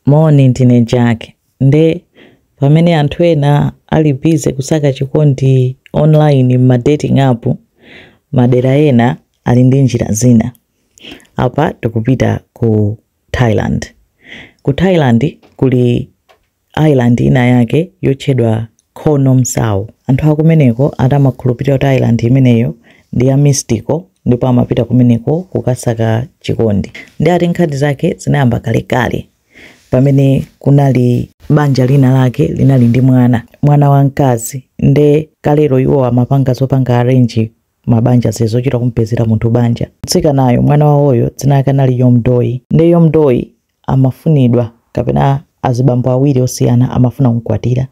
Moni, ndine Jack. Nde pamene anthu ena ali busy kusaka chikondi online m'ma dating app, madera ena ali ndi njira zina. Apa tikupita ku Thailand. Ku Thailand kuli island inayake yotchedwa Koh Nom Sao. Anthu akumeneko ati amakhulupirira kuti island imeneyo ndi ya mystical ndipo amapita kumeneko kukasaka chikondi. Nde ati nkhani zake zinayamba kalekale pamene kunali banja lina lake linali ndi mwana, mwana wa mkazi nde kalero iwo amapanga zopanga arrange mabanja zija zochita kumpezera munthu banja mtsikanayo mwana wawoyo dzina lake anali Yomdoi nde Yomdoi amafunidwa kapena azibambo awiri osiyana amafuna kumkwatira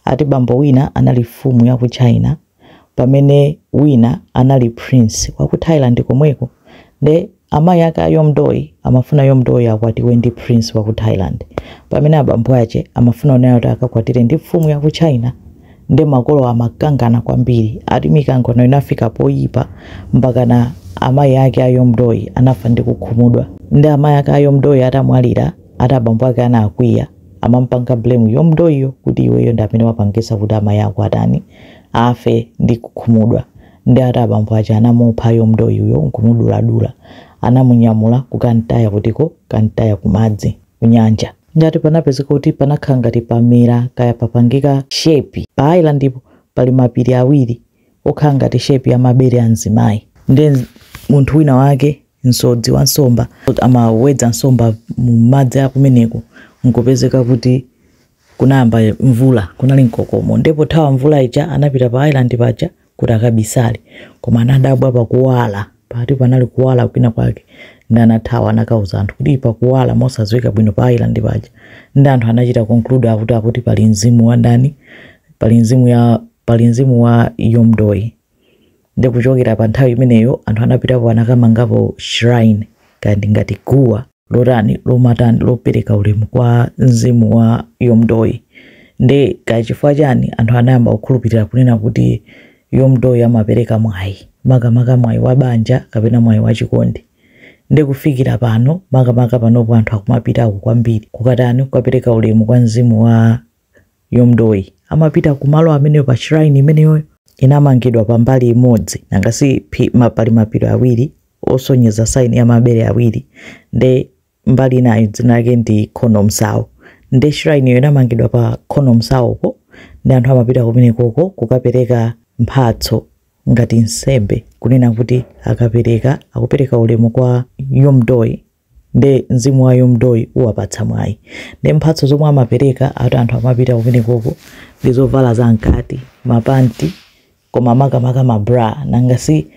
ati bambo wina anali mfumu ya ku China pamene wina anali prince wa ku Thailand komweko nde Amayi ake a Yomdoi amafuna Yomdoi akwatiwe ndi prince wa ku Thailand pamene abambo ache amafuna kunena kuti akakwatire ndi mfumu ya ku China nde makolowa amakangana kwambiri ati mikangano inafika poyipa mpakana amayi ake a Yomdoi anafa ndi kukhumudwa nde amayi ake a Yomdoi atamwalira ati abambo ake anakwiya amampanga blame Yomdoiyo kuti iweyo ndi amene wapangisa kuti amayi ako atani afe ndi kukhumudwa nde ati abambo ache anamupha Yomdoiyo nkumuduladula anamunyamula kukamtaya kuti kukamtaya kumadzi kunyanja nde ati panapezeka kuti panakhala ngati pamera kaya papangika shape pa islandpo pali mapiri awiri okhala ngati shape ya mabere a mzimayi nde munthu wina wake msodzi wa nsomba amawedza nsomba mu madzi akumeneko nkupezeka kuti Kunayamba mvula, kunali mkokomo nde pothawa mvula ija anapita pa island paja kuti akabisale koma anadabwa pakuwala ati panali kuwala kwina kwake nde anathawa anakauza anthu kuti pakuwala mosaziwika bwino pa island paja nde anthu anachita conclude akuti akuti pali mzimu wa ndani pali mzimu ya pali mzimu wa Yomdoi Nde kuchokera pa nthawi imeneyo anthu anapitapo anakamangapo shrine kaya ndi ngati guwa lotani lomatani lopereka ulemu kwa mzimu wa Yomdoi. Nde kaya chifukwa chani anthu anayamba kukhulupirira kunena kuti Yomdoi amapereka mwayi makamaka mwayi wa banja kapena mwayi wa chikondi. Nde kufikira pano makamaka panopo anthu akumapitako kwambiri kukatani kukapereka ulemu kwa mzimu wa. Yomdoi amapita kumalo ameneyo pa shrine imeneyoyo inamangidwa pa mbali imodzi nanga si phi- ma- pali mapiri awiri osonyeza sign ya mabere awiri nde mbali inayo dzina lake ndi Koh Nom Sao nde shrine iyo inamangidwa pa Koh Nom Saopo nde anthu amapita kumenekoko kukapereka mphatso ngati nsembe kunena kuti akapereka akupereka ulemu kwa Yomdoi nde mzimu wa Yomdoi uwapatsa mwayi nde mphatso zomwe amapereka ati anthu amapita kumenekoko ndi zovala za mkati mapanti koma makamaka ma bra nanga si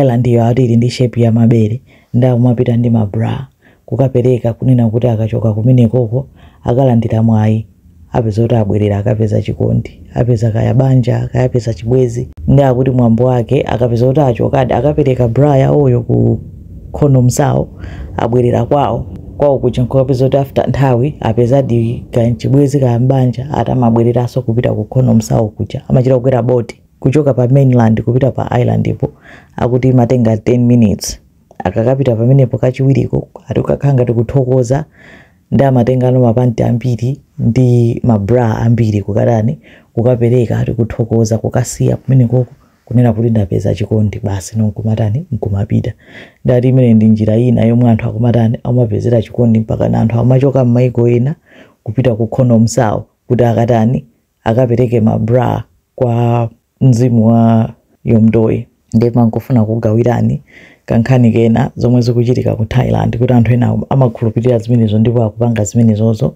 island iyo ati ili ndi shape ya mabere nde akumapita ndi ma bra kukapereka kunena kuti akachoka kumenekoko akalandira mwayi apeza kuti abwerera akapeza chikondi apeza kaya banja kaya apeza chibwezi nde akuti mwambo wake akapeza kuti achokadi akapereka bra yawoyo ku Koh Nom Sao abwerera kwawo kwawo kuja nkukapeza kuti after nthawi apezadi kaya chibwezi kaya banja ati amabwereranso kupita ku Koh Nom Sao kuja amachita kukwera boti kuchoka pa mainland kupita pa island ipo akuti imatenga 10 minutes akakapita pamenepo kachiwiriko ati ukakhala ngati kuthokoza nde amatengano mapanti ambiri ndi ma bra ambiri kukatani kukapereka ati kuthokoza kukasiya kumenekoko kunena kuti ndapeza chikondi basi nkumatani nkumapita nde ati imene ndi njira ina yomwe anthu akumatani amapezera chikondi mpakana anthu amachoka m'maiko ena kupita ku Koh Nom Sao kuti akatani akapereke ma bra kwa mzimu wa Yomdoi nde ndimangofuna kugawirani kankhani kena zomwe zikuchitika ku thailand kuti anthu ena amakhulupirira zimenezo ndipo akupanga zimenezozo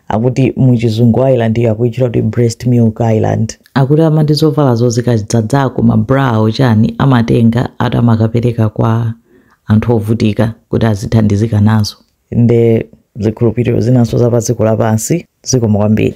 akuti muchizungu island iyo akuitchula kuti breast milk island akuti amati zovalazo zikadzadzako ma bra awo chani amatenga ati amakapereka kwa anthu ovutika kuti azithandizika nazo nde zikhulupiriro zinanso za pa dziko lapansi zikomo kwambiri